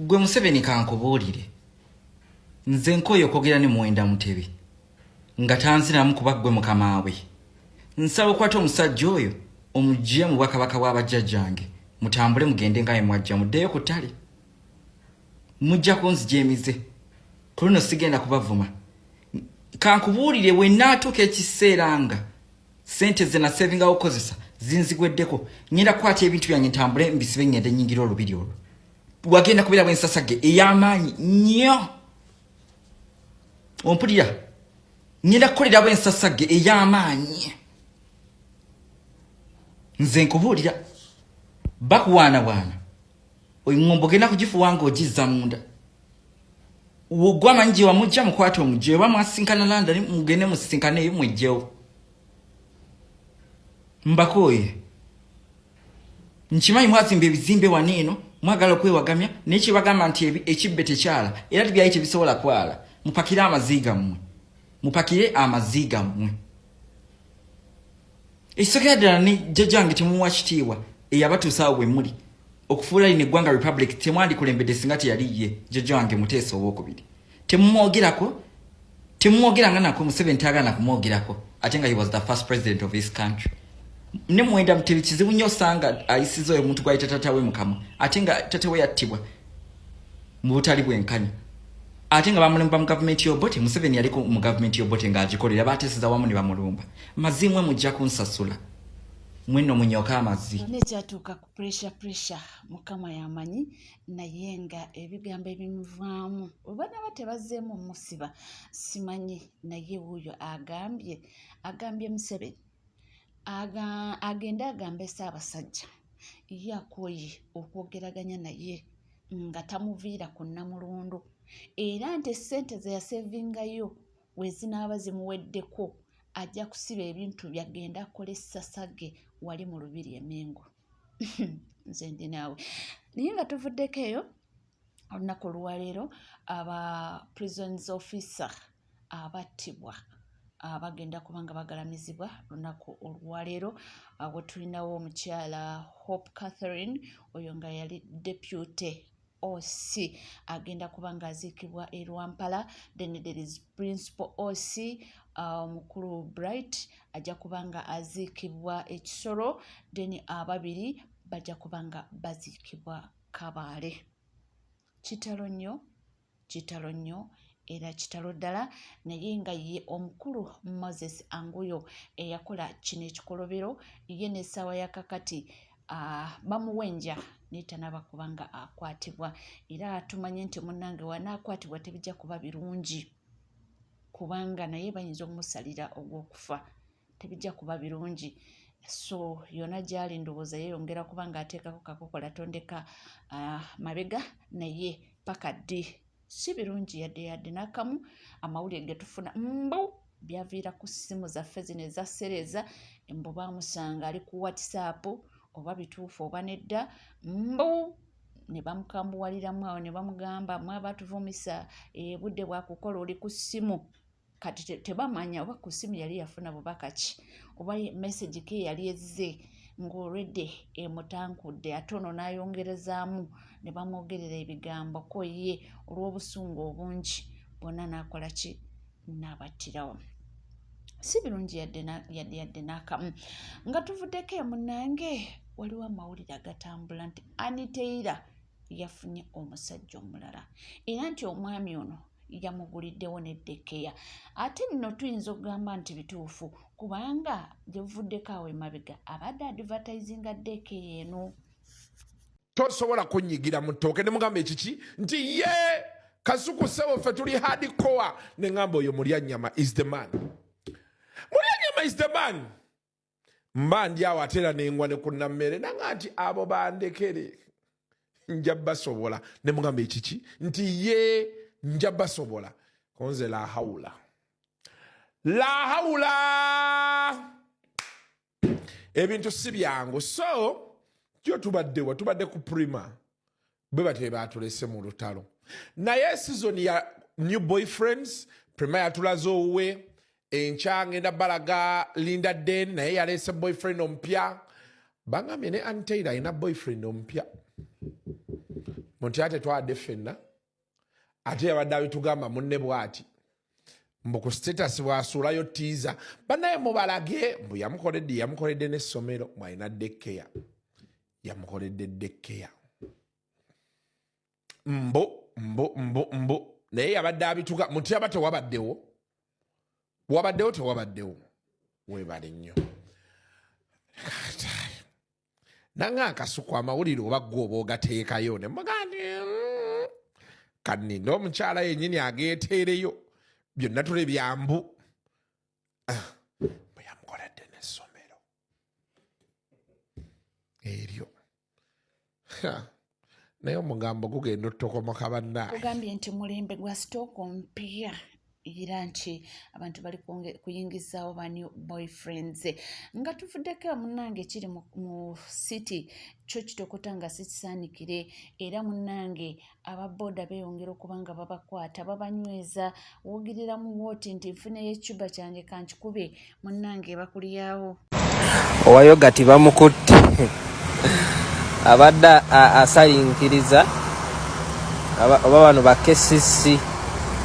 Gwe Museveni kankubuulire, nze nkooye okwogera ne Muwenda Mutebi nga tanziramu kuba ggwe mukama we. Nsaba okwata omusajja oyo omugye mu bwakabaka bwa bajjajjange, mutambule mugende nga mwajja muddeyo ku ttale. Mujja kunzija emize, ku luno sigenda kubavuma. Kankubuulire, wennaatuuka ekiseera nga sente zenasevingawo okozesa zinzigweddeko ngenda kukwata ebintu byange ntambule mbisibe ngende nyingira olubiri olwo wagenda kubeera bwensasage ey'amaanyi nnyo ompulira ngenda kukolera bwensasage ey'amaanyi nze nkubuulira bakuwaanawaana oyo ngombo genda kugifuwa nga ogizza munda wogwa amanyi gye wamujja mukwata omugyeyo oba mwasinkana landani mugende musisinkaneyo mwejjewo mbakooye nkimanyi mwazimba ebizimbe wano eno mwagala okwewagamya naye kyebagamba nti ekibbe tekyala era tibyayi tebisobola kwala mupakire amaziiga mmwe mupakire amaziiga mmwe ekisekera ddala ne jjajange temuwa kitiibwa eyabatuusa awo wemuli okufuula lino eggwanga republic temwandikulembedde singa teyali ye jjaja wange muteesa owokubiri temumwogerako temumwogeranga nako museveni tayagala nakumwogerako ate nga he was the first president of this country ne mwenda mutebi kizibu nnyo osanga ayisiza oyo omuntu gwali tatatawe mukama ate nga tatawe yattibwa mu butali bwenkanya ate nga bamulemba mu gavumenti y'obote museveni yaliko mu gavumenti y'obote ng'agikolera bateeseza wamu ne bamulumba mazi mwe mujja kunsasula mweno munyoka amazi nekyatuuka ku pressure pressure mukama yamanyi naye nga ebigambo ebimuvaamu obana ba tebazeemu musiba simanyi naye wuuyo agambye agambye museveni agende agambe ssaabasajja ye akooye okwogeraganya naye nga tamuviira ku nnamulondo era nti essente ze yasevingayo we zinaaba zimuweddeko ajja kusiba ebintu byagenda akola essasa ge wali mu lubiri emengo nze ndi naawe naye nga tuvuddeko eyo olunaku oluwaleero aba prisons officer abattibwa abagenda kuba nga bagalamizibwa lunaku olwaleero awo tulinawo omukyala hope catherine oyo nga yali depute oc agenda kuba nga aziikibwa e rwampala then there is principal oc uh, omukulu uh, bright ajja kuba nga aziikibwa ekisolo then ababiri bajja kuba nga baziikibwa kabaale kitalo nnyo kitalo nnyo era kitalo ddala naye nga ye omukulu moses anguyo eyakola kino ekikolobero ye n'essaawa ya kakati ah, bamuwenja naye tanaba kuba nga akwatibwa era tumanye nti munnange wanaakwatibwa tebijja kuba birungi kubanga naye bayinza okumusalira ogw'okufa tebijja kuba birungi so yona gyali ndowooza yeyongera kuba nga ateekako kakokola tondeka uh, mabega naye paka ddi si birungi yadde yadde nakamu amawulire getufuna mbu byaviira ku ssimu zaffe zino ezasereeza mbu bamusanga ali ku whatsapp oba bituufu oba nedda mbu ne bamukambuwaliramu awo ne bamugamba mwaba tuvumisa ebudde eh, bwakukola oli ku ssimu kati tebamanya oba ku ssimu yali yafuna bubaka ki oba message ke yali ezze ng'olwedde emutankudde ate ono n'ayongerezaamu ne bamwogerera ebigambo ko ye olw'obusungu obungi bonna n'akola ki n'abattirawo si birungi yadde n'akamu nga tuvuddeko emunange waliwo amawulire agatambula nti aniteira yafunye omusajja omulala era nti omwami ono yamuguliddewo n'eddekkeya ate nno tuyinza okugamba nti bituufu kubanga gye buvuddeko awo emabega abadde advertisinga ddekkeya eno tosobola kunyigira mu ttooke ne mugamba ekiki nti ye kasuku sebo ffe tuli hardcore ne ngamba oyo mulya nyama is the man mulya nyama is the man mba ndi awo ate era nengwa ne ku nammere nanga nti abo bandekere nja basobola ne mugamba ekiki nti ye nja basobola konze la haula la haula ebintu si byangu so kyo tubaddewa tubadde ku prima bwe batyo bebatulese mu lutalo naye sizoni ya new boyfriends prima yatulaze owuwe enkya ngenda balaga linda den naye yaleese boyfriend omupya bangambye ne antail alina boyfriend omupya munti ate twade fenna ate yabadde abitugamba munne bwati mbu ku status bwasuulayo tiiza banaye mubalage mbu yamukoledde yamukoledde n'essomero mwalina dekkeya yamukoledde dekkeya mbu mbu mbu mbu naye yabadde abituka mutyaba tewabaddewo wabaddewo tewabaddewo webale nnyo nanga akasuku amawulire oba gwe oba ogateekayo ne mugandi mm, kaninde omukyala yenyini ageeteereyo byonna tule byambu ah, eryo naye omugambo gugenda otutokomoka bannaugambye nti mulembe gwa stock mpya era nti abantu bali kuyingizaawo ba new boyfriends nga tuvuddeko munange ekiri mu city kyo kitokota nga sikisaanikire era munange aba boda beeyongera okuba nga babakwata babanyweza wogerera mu wooti nti nfuna eyecuba kyange kankikube munnange bakulyawo owayoga tibamukutte abadde asalinkiriza oba bano ba kcc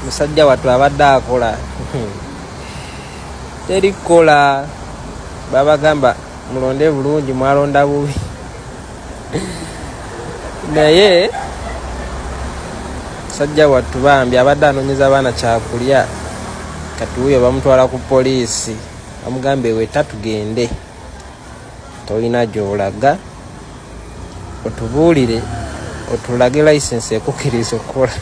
musajja wattu abadde akola terikola babagamba mulonde bulungi mwalonda bubi naye sajja wattu bambi abadde anonyeza abaana kyakulya kati wuyo bamutwala ku poliisi amugambye weta tugende tolina gyolaga otubuulire otulage license ekukiriza okukola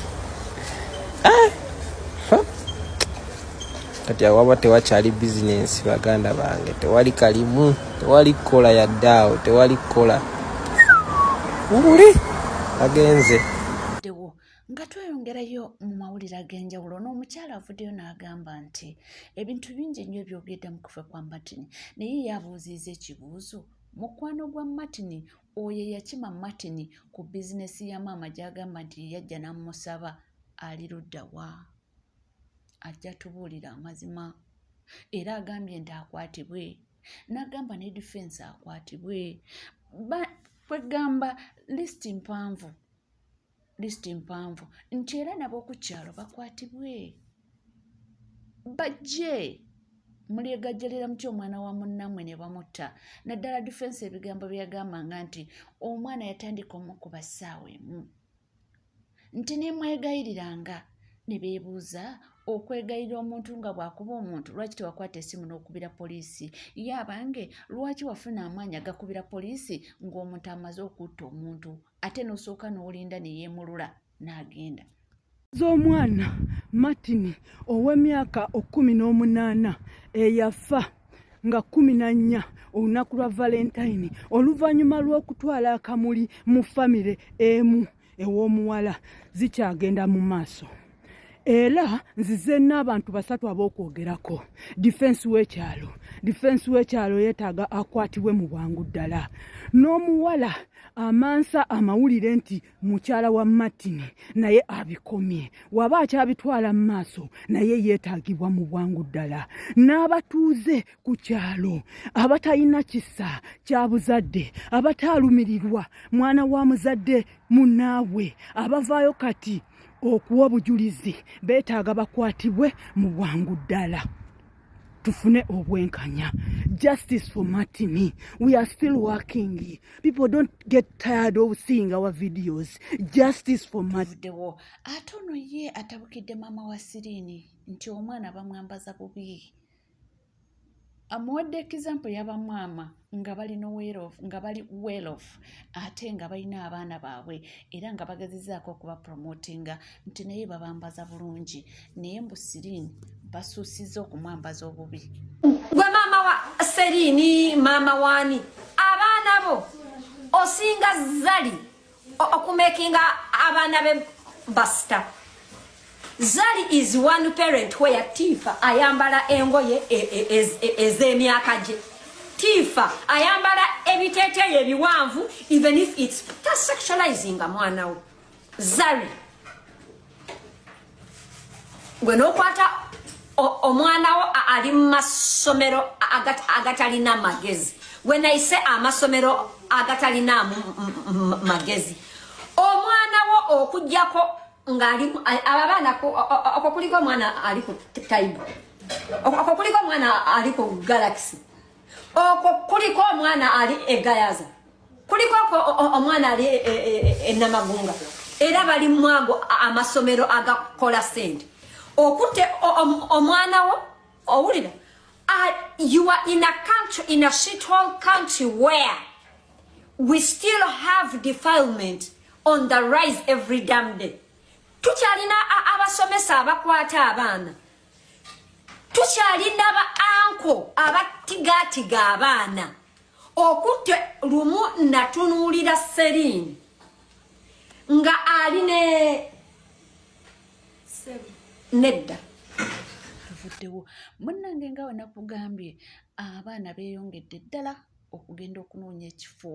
kati awaba tewakyali bizinensi baganda bange tewali kalimu tewali kukola yadde awo tewali kukola wuli agenze dewo nga tweyongerayo mu mawulire ag'enjawulo n'omukyala avuddeyo n'agamba nti ebintu bingi ennyo ebyogedde mu kufa kwa martin naye yabuuziiza ekibuuzo mukwano gwa martin oyo eyakima martin ku bizinesi ya maama gy'agamba nti yeyajja n'amusaba ali luddawa ajja tubuulira amazima era agambye nti akwatibwe n'agamba ne difensi akwatibwe kwegamba lisiti mpanvu lisiti mpanvu nti era nab'oku kyalo bakwatibwe bajje mulyegajjalira muty omwana wa munnamwe ne bamutta naddala difensi ebigambo byeyagambanga nti omwana yatandika omukuba ssaawa emu nti ne mwegayiriranga ne beebuuza okwegayirira omuntu nga bw'akuba omuntu lwaki tewakwata esimu n'okubira poliisi ye abange lwaki wafuna amaanyi agakubira poliisi ng'omuntu amaze okutta omuntu ate n'osooka n'olinda ne yeemulula n'agenda z'omwana martin ow'emyaka okkumi n'omunaana eyafa nga kumi na nnya olunaku lwa valentine oluvannyuma lw'okutwala akamuli mu famire emu ew'omuwala zikyagenda mu maaso era nzize n'abantu basatu ab'okwogerako difensi w'ekyalo difensi w'ekyalo yeetaaga akwatibwe mu bwangu ddala n'omuwala amansa amawulire nti mukyala wa martin naye abikomye waba akyabitwala mu maaso naye yeetagibwa mu bwangu ddala n'abatuuze ku kyalo abatalina kisa kya buzadde abataalumirirwa mwana wa muzadde munaabwe abavaayo kati okuwa obujulizi beetaaga bakwatibwe mu bwangu ddala tufune obwenkanya justice for martin we are still working people don't get tired of seeing our videos justice for martindewo ate ono ye atabukidde maama wa sirini nti omwana bamwambaza bubi amuwadde example yabamwama nga bali nowelof nga bali welof ate nga balina abaana baabwe era nga bagezezaako okuba promotinga nti naye babambaza bulungi naye mbu sirin basuusiza okumwambaza obubi gwe maama wa serini maama waani abaana bo osinga zali okumekinga abaana be basita zari is one parent where tifa ayambala engoye e, e, e, ez'emyaka gye tifa ayambala ebiteteeyo ebiwanvu even if its tasexualizing mwana we zari gwe nokwata omwana wo ali mu masomero agatalina magezi gwe nayise amasomero agatalina magezi omwana wo okujjako ngaali abo abaana oko kuliko omwana ali ku taibu oko kuliko omwana ali ku galaxy oko kuliko omwana ali egayaza kuliko omwana ali enamagunga e, e, e, era bali mwago amasomero agakola sente okute omwana wo owulira uh, you are in a country in a shit hole country where we still have defilement on the rise every damn day tukyalina abasomesa abakwata abaana tukyalina ba anko abatigaatiga abaana okutte lumu natunuulira serine nga ali ne nedda tuvuddewo munnange nga wenakugambye abaana beeyongedde ddala okugenda okunoonya ekifo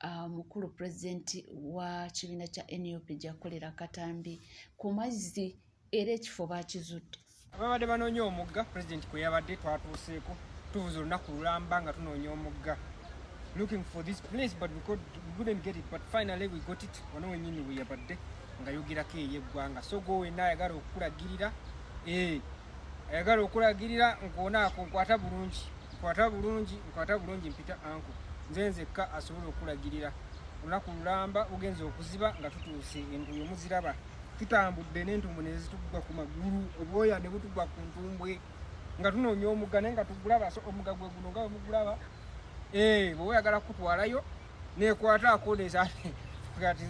ah, mukulu pulezidenti wa kibiina kya nup gyakolera katambi ku mazzi era ekifo bakizudde ababadde banoonya omugga pulezidenti kwe yabadde twatuuseeko tubuza olunaku lulamba nga tunoonya omugga looking for this place but we, could, we couldn't get it but finally we got it wano wenyini we yabadde nga yogerako eyeggwanga so go wenna ayagala okukulagirira eh, ayagala okulagirira nkuonaako nkwata bulungi nkwata bulungi nkwata bulungi mpita anko nze nzekka asobola okulagirira olunaku lulamba ugenza okuziba nga tutuuse enguyo muziraba tutambudde n'entumbwe ne zitugwa ku magulu obwoya ne butugwa ku ntumbwe nga tunoonya omugga naye nga tugulaba so omugga gwe guno nga wemugulaba ee eh, bwoba oyagala kukutwalayo nekwata akoneeza kati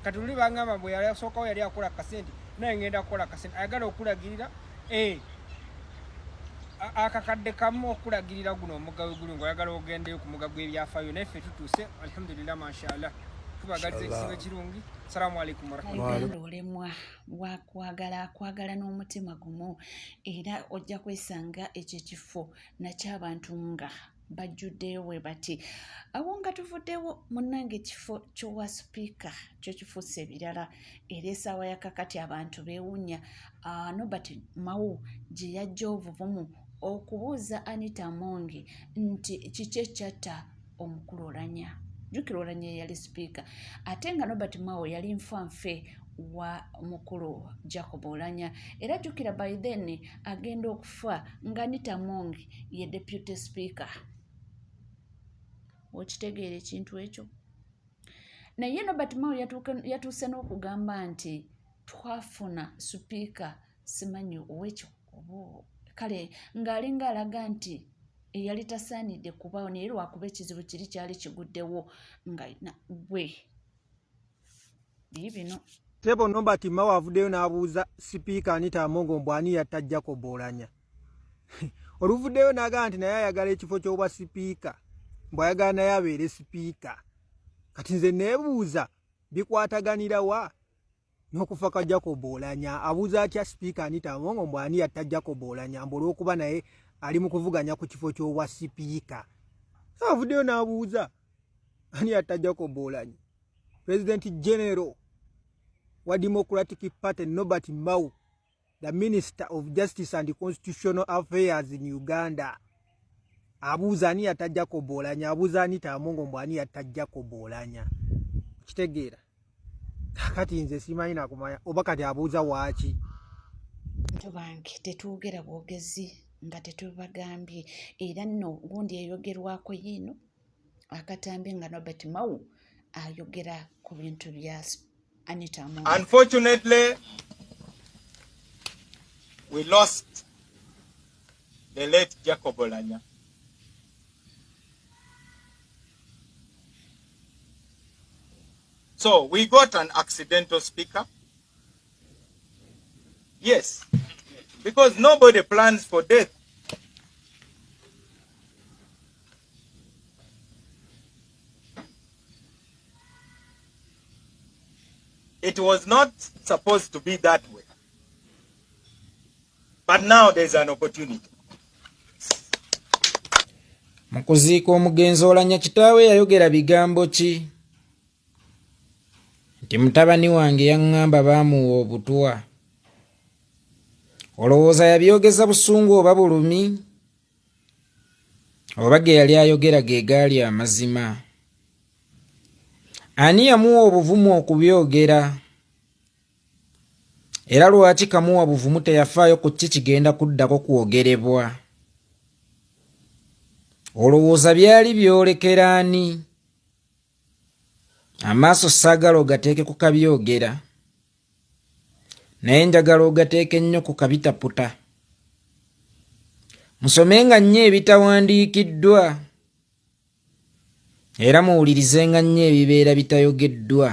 kati luli bangamba mbu yali asookawo yali akola kasente naye ngenda kukola kasente ayagala okulagirira Eh. akakadde kamu okulagirira guno omugga wegulu nga oyagala ogendeyo ku mugga gw'ebyafaayo naye ffe tutuuse alhamdulillah mashallah tubagaliza ekisibo ekirungi salamu aleikum warahmatullahi olemwa wakwagala akwagala n'omutima gumu era ojja kwesanga ekyo ekifo nakyabantu nga bajjuddeyo bwe bati awo nga tuvuddewo munnange ekifo ky'owa sipiika kyo kifuuse ebirala era esaawa yakakati abantu beewunya ah, nobert mawu gye yajja obuvumu okubuuza anita mongi nti kiki ekyatta omukulu olanya jukira olanya eyali sipiika ate nga nobert mawo yali nfanfe wa mukulu jacob olanya era jukira by then agenda okufa nga nitamongi ye deputy speaker okitegeera ekintu ekyo naye nobert mao yatuuse n'okugamba nti twafuna supiika simanyi owekyo kale ng'alinga alaga nti eyali tasaanidde kubawo naye lwakuba ekizibu kiri kyali kiguddewo nga gwe biibino tebo nobert mao avuddeyo n'abuuza sipiika anita amongo mbw ani yatta jacob olanya oluvuddeyo naga nti naye ayagala ekifo ky'obwa sipiika mbu ayagala naye abeere sipiika kati nze neebuuza bikwataganira wa n'okufa kwa jacob olanya abuuza atya sipiika anita amongo mbu ani yatta jacob olanya mbu olw'okuba naye ali mu kuvuganya ku kifo ky'obwa sipiika so avuddeyo n'abuuza ani yatta jacob olanya pulezidenti genero wa democratic party nobert mau the minister of justice and constitutional affairs in uganda abuuza ani yatta jacob olanya abuuza ani tamongo mbu ani yatta jacob olanya okitegeera kakati nze simanyi nakumanya oba kati abuuza waaki bantu bange tetwogera bwogezi nga tetubagambye era nno gundi eyogerwako yiino akatambi nga nobert mau ayogera ku bintu bya anita unfortunately we lost the late jacob olanya so we got an accidental speaker yes because nobody plans for death It was not supposed to be that way. But now there's an opportunity. Mu kuziika omugenzi Olanya kitaawe yayogera bigambo ki? Nti mutabani wange yaŋŋamba baamuwa obutwa. Olowooza yabyogeza busungu oba bulumi? oba ge yali ayogera ge gaali amazima ani yamuwa obuvumu okubyogera era lwaki kamuwa buvumu teyafaayo ku ki kigenda kuddako kwogerebwa olowooza byali byolekera ani amaaso saagala ogateeke ku kabyogera naye njagala ogateeka ennyo ku kabitaputa musome nga nnyo ebitawandiikiddwa era muwulirize nga nnyo ebibeera bitayogeddwa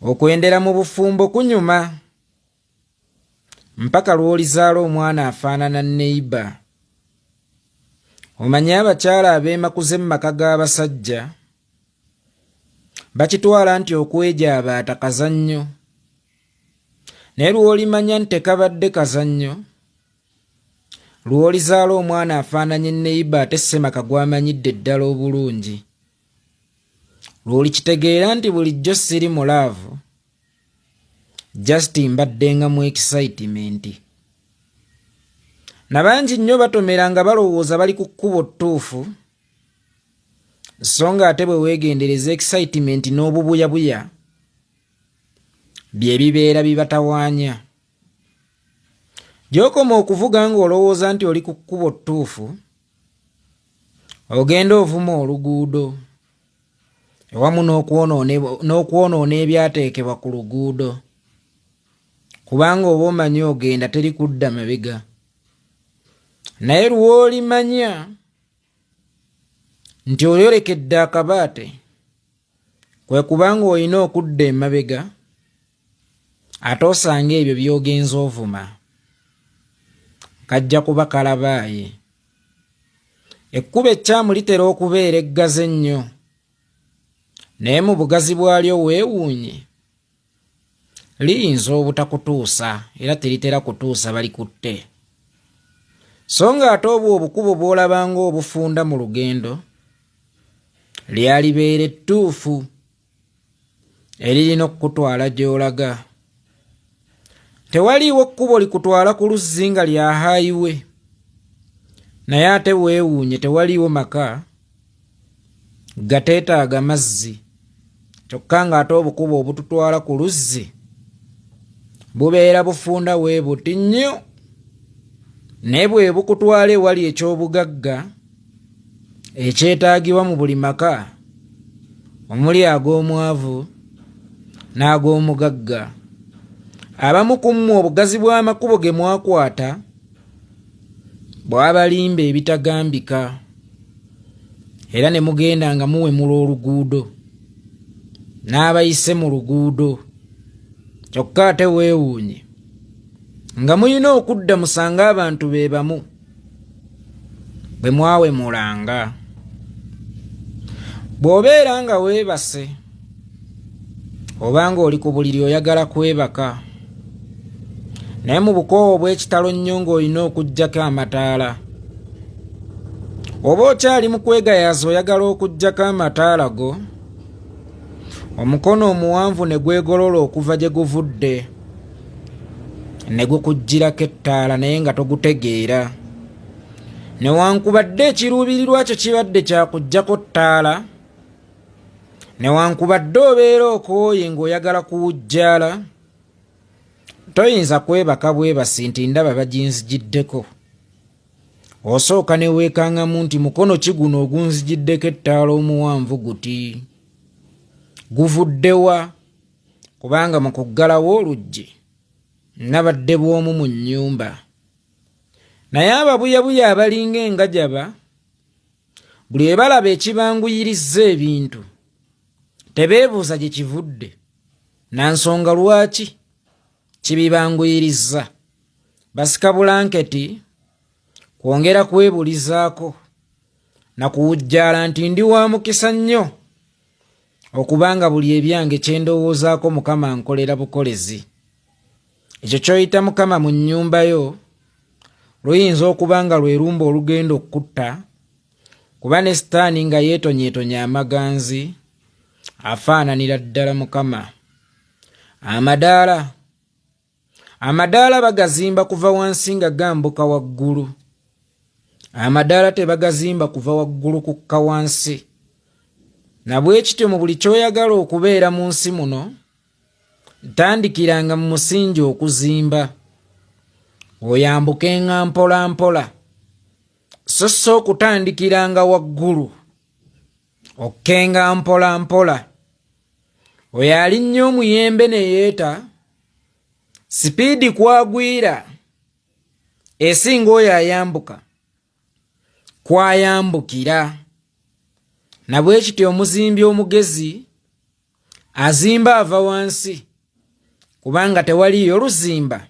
okwendera mu bufumbo kunyuma mpaka lw'olizaala omwana afaanana neiba omanye abakyala abeemakuze mu maka g'abasajja bakitwala nti okwejabaata kazannyo naye lwolimanya nti tekabadde kazannyo lwolizaala omwana afaananye neyiba ate semaka gwamanyidde ddala obulungi lwolikitegeera nti bulijjo siri mu laavu just mbaddenga mu excitement nabangi nnyo batomera nga balowooza bali ku kkubo ttuufu so nga ate bwe weegendereza excitement n'obubuyabuya bye bibeera bibatawaanya gy'okoma okuvuga ng'olowooza nti oli ku kkubo ttuufu ogenda ovuma oluguudo ewamu n'okwonoona ebyateekebwa ku luguudo kubanga oba omanyi ogenda teri kudda mabega naye lwolimanya nti oyolekedde akabaate kwe kubanga olina okudda emabega ate osanga ebyo byogenza ovuma kajja kuba kalabaaye ekkuba ekkyamu litera okubeera eggazi ennyo naye mu bugazi bwalyo weewuunye liyinza obutakutuusa era teritera kutuusa balikutte so nga ate obwo obukubo bw'olabanga obufunda mu lugendo lyalibeera ettuufu eririna okukutwala gy'olaga tewaliiwo kkubo likutwala ku luzzi nga lya haayiwe naye ate weewuunye tewaliiwo maka gateetaaga mazzi kyokka ng'ate obukubo obututwala ku luzzi bubeera bufunda we buti nnyo naye bwe bukutwala ewali eky'obugagga ekyetaagibwa mu buli maka omuli ag'omwavu n'ag'omugagga abamu ku mmwe obugazi bw'amakubo ge mwakwata bwabalimba ebitagambika era ne mugenda nga muwemula oluguudo n'abayise mu luguudo kyokka ate weewuunye nga mulina okudda musange abantu be bamu bwe mwawemulanga bw'obeera nga weebase obanga oli ku buliri oyagala kwebaka naye mu bukoowa obw'ekitalo nnyo ng'olina okuggyako amataala oba okyali mu kwegayaaza oyagala okuggyako amataala go omukono omuwanvu ne gwegolola okuva gye guvudde ne gukuggyirako ettaala naye nga togutegeera newankubadde ekiruubirirwa kyo kibadde kyakuggyako ttaala newankubadde obeera okooye ng'oyagala kuwujjaala toyinza kwebaka bwebasi nti ndaba baginzigiddeko osooka neweekangamu nti mukono ki guno ogunzigiddeko ettaala omuwanvu guti guvuddewa kubanga mu kuggalawo oluggi nabadde bw'omu mu nnyumba naye ababuyabuya abalinga engajaba buli webalaba ekibanguyirizza ebintu tebeebuuza gye kivudde na nsonga lwaki kibibanguyirizza basika bulanketi kwongera kwebulizaako na kuwujjaala nti ndi wa mukisa nnyo okubanga buli ebyange kyendowoozaako mukama nkolera bukolezi ekyo kyoyita mukama mu nnyumba yo luyinza okuba nga lwerumba olugenda okukutta kuba ne sitaani nga yeetonyetonya amaganzi afaananira ddala mukama amadaala amadaala bagazimba kuva wansi nga gambuka waggulu amadaala tebagazimba kuva waggulu kukka wansi nabwekityo mu buli kyoyagala okubeera mu nsi muno tandikiranga mu musingi okuzimba oyambukenga mpola mpola so so okutandikiranga waggulu okkenga mpola mpola oyo alinnya omuyembe ne yeeta sipiidi kwagwira esinga oyo ayambuka kwayambukira nabwekityo omuzimbi omugezi azimba ava wansi kubanga tewaliyo luzimba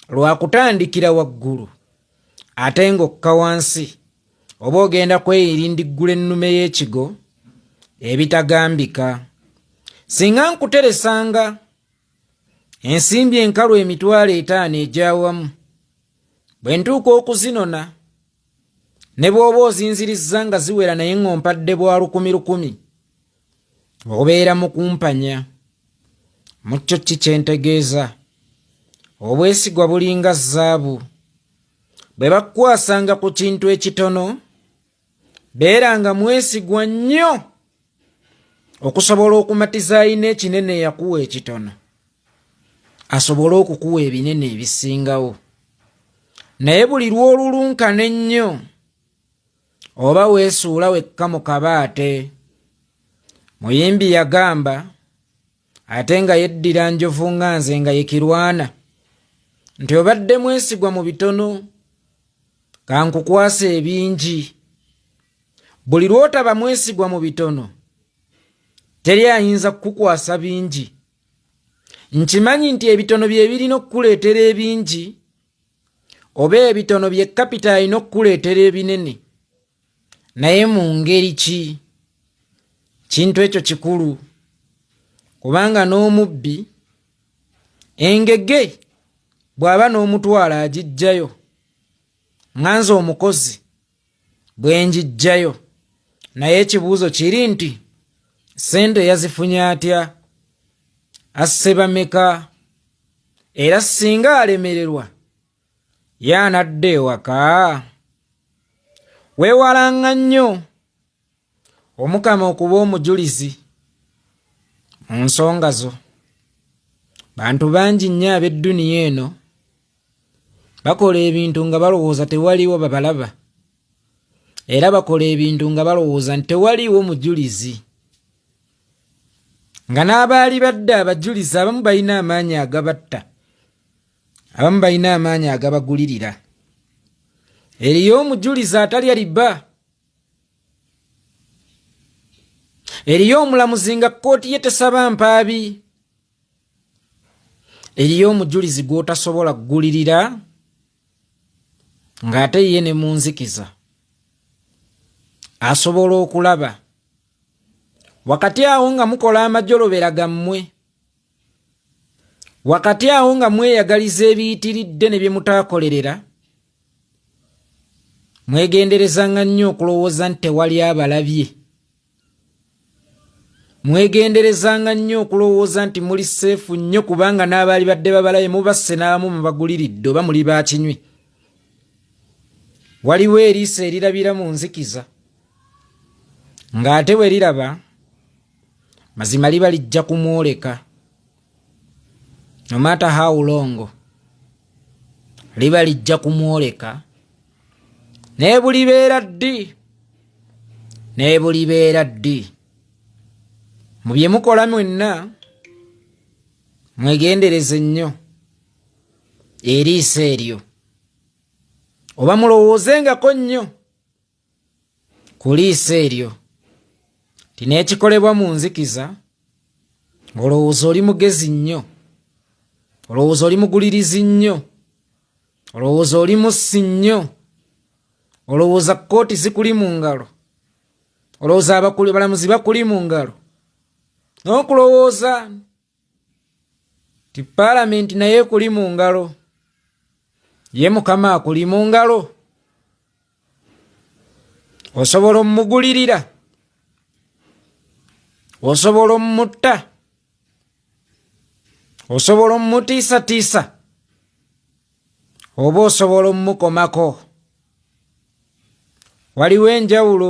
lwakutandikira waggulu ate ng'okka wansi oba ogenda kweyirindiggula ennume y'ekigo ebitagambika singa nkuteresanga ensimbi enkalu emitwalo etaano egyawamu bwe ntuuka okuzinona ne bw'oba ozinzirizza nga ziwera naye ng'ompadde bwa lukumi lukumi obeera mu kumpanya mu kyo ki kye ntegeeza obwesigwa bulinga zaabu bwe bakukwasanga ku kintu ekitono beera nga mwesigwa nnyo okusobola okumatiza alina ekinene yakuwa ekitono asobole okukuwa ebinene ebisingawo naye buli lw'olulunkana ennyo oba weesuula wekka mu kabaate muyimbi yagamba ate nga yeddira njovu nga nze nga yekirwana nti obadde mwesigwa mu bitono kankukwasa ebingi Buli lw'otaba mwesigwa mu bitono, teri ayinza kukukwasa bingi. Nkimanyi nti ebitono bye birina okukuleetera ebingi, oba ebitono bye kapita alina okukuleetera ebinene. Naye mu ngeri ki? Kintu ekyo kikulu, kubanga n'omubbi engege bw'aba n'omutwalo agiggyayo. Nga nze omukozi. bwe ngiggyayo naye ekibuuzo kiri nti ssente yazifunye atya asse bameka era singa alemererwa ye anadda ewaka weewalanga nnyo omukama okuba omujulizi mu nsonga zo bantu bangi nnyo ab'edduniya eno bakola ebintu nga balowooza tewaliwo babalaba era bakola ebintu nga balowooza nti tewaliwo mujulizi nga n'abaali badde abajulizi abamu balina amaanyi agabatta abamu balina amaanyi agabagulirira eriyo omujulizi atali aliba eriyo omulamuzi nga kkooti ye tesaba mpaabi eriyo omujulizi gw'otasobola kugulirira ng'ate ye ne mu nzikiza asobola okulaba wakati awo nga mukola amajolobera gammwe wakati awo nga mweyagaliza ebiyitiridde ne bye mutaakolerera mwegenderezanga nnyo okulowooza nti tewali abalabye mwegenderezanga nnyo okulowooza nti muli seefu nnyo kubanga n'abaali badde babalaye mubasse n'abamu mubaguliridde oba muli baakinywi waliwo eriiso erirabira mu nzikiza ng'ate bwe liraba mazima liba lijja kumwoleka nomaata hawulongo liba lijja kumwoleka naye bulibeera ddi naye bulibeera ddi mu bye mukola mwenna mwegendereze nnyo eriiso eryo oba mulowooze ngako nnyo ku liiso eryo nti n'ekikolebwa mu nzikiza olowooza oli mugezi nnyo olowooza oli mugulirizi nnyo olowooza oli mussi nnyo olowooza kkooti zikuli mu ngalo olowooza abakuli balamuzi bakuli mu ngalo n'okulowooza ti palamenti naye ekuli mu ngalo ye mukama akuli mu ngalo osobola omumugulirira osobola omumutta osobola omumutiisatiisa oba osobola omumukomako waliwo enjawulo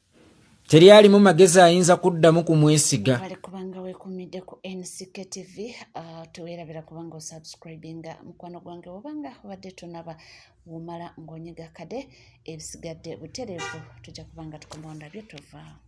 teri alimu magezi ayinza kuddamu kumwesiga bale kubanga wekumidde ku nck tv uh, tuwerabira kubanga osubscribinga mukwano gwange wobanga obadde tunaba womala ng'onyiga kade ebisigadde butereevu tujja kubanga tukumondabye tovaawo